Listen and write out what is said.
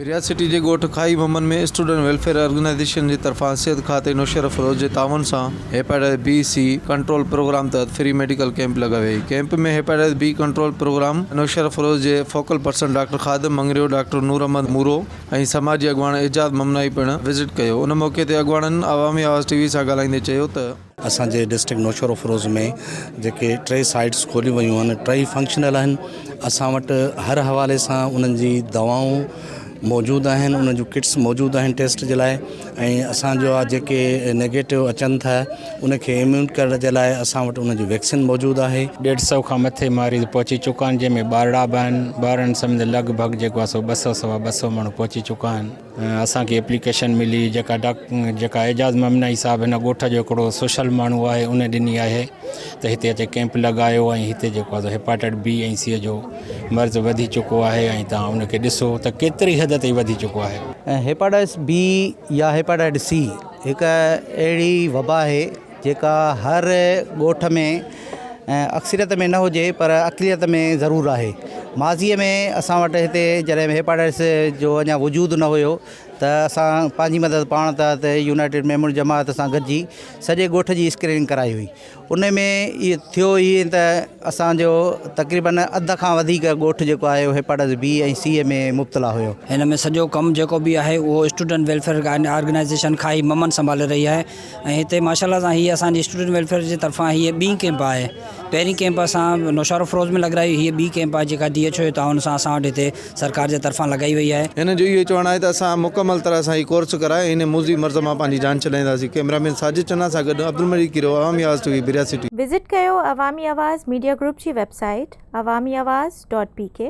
Riaz city جي ڳوٺ کاهي ممن ۾ اسٽوڊنٽ ويلفيئر آرگنائيزيشن جي طرفان صحت کاتي نوشهره فروز جي تعاون سان hepatitis B C control programme تحت فري ميڊيڪل ڪيمپ لڳائي وئي camp ۾ hepatitis B control programme Naushahro Feroze جي focal person doctor Khadim Mangrio doctor Noor Ahmed Moro ۽ سماجي اڳواڻ اعجاز ممنائي پڻ وزٽ ڪيو ان موقعي تي اڳواڻن عوامي آواز ٽي وي سان ڳالهائيندي چيو ته اسان جي ڊسٽرڪٽ نوشهروفروز ۾ جيڪي ٽي سائيٽس کوليون ويون آهن ٽئي فنڪشنل آهن اسان وٽ هر حوالي سان انهن جي دوائون موجود آهن انهن جون ڪٽس موجود آهن ٽيسٽ جي لاء ۽ اسان جو آهي جيڪي نيگيٽو اچن ٿا ان کي اميون ڪرڻ جي لاء اسان وٽ ان جي ويڪسين موجود آهي ڏيڍ سو کان مٿي ماريض پهچي چڪا آهن جنهن ۾ ٻارڙا به آهن ٻارڙن سميت لڳ ڀڳ جيڪو آهي سو ٻه سو سوا ٻه سو ماڻهو پهچي چڪا آهن اسان کي ايپليڪيشن ملي جيڪا جيڪا اعجاز ممنائي صاحب هن ڳوٺ جو هڪڙو سوشل ماڻهو آهي ان ڏني آهي ته هتي اچي ڪيمپ لڳايو ۽ هتي جيڪو آهي هيپاٽائٽ بي ۽ سي جو مرض وڌي چڪو آهي ۽ تان ان کي ڏسو ته ڪيتري حد تائين وڌي چڪو آهي هيپاٽائٽس بي يا هيپاٽائٽس سي هڪ اهڙي وبا آهي جيڪا هر ڳوٺ ۾ اڪثريت ۾ نه هجي پر اقليت ۾ ضرور آهي ماضيء ۾ اسان وٽ هتي جڏهن هيپاٽائٽس جو اڃا وجود نه هيو ته اسان پنهنجي مدد پاڻ ته هتي يونائيٽيڊ ميمون جماعت سان گڏجي سڄي ڳوٺ جي اسڪريننگ ڪرائي هئي ان ۾ اهي ٿيو ائين ته اسانجو تقريبن اڌ کان وڌيڪ ڳوٺ جيڪو آهي اهو هيپاٽائٽس بي ۽ سي ۾ مبتلا هيو هن ۾ سڄو ڪم جيڪو به آهي اهو اسٽوڊنٽ ويلفيئر آرگنائيزيشن کان ئي ممن سنڀالي رهي آهي ۽ هتي ماشاء الله سان هي اسان جي اسٽوڊنٽ ويلفيئر جي طرفان هي ٻي ڪيمپ آهي پهرين ڪيمپ اسان نوشهروفروز ۾ لڳرائي هي ٻي ڪيمپ آهي جيڪا ڊي ايڇ او جي تعاون سان اسان وٽ هتي سرڪار جي طرفان لڳائي وئي آهي. هنن جو اهو چوڻ آهي ته اسان مڪمل طرح سان هي ڪورس ڪرائي هن موذي مرض مان پنهنجي جان ڇڏائينداسين ڪيمرا مين ساجد چنا سان گڏ عبدالمجيد کيرو عوامي آواز ٽي وي برياسٽي. وزٽ ڪيو عوامي آواز ميڊيا گروپ جي website Awami Awaz dot P ڪي.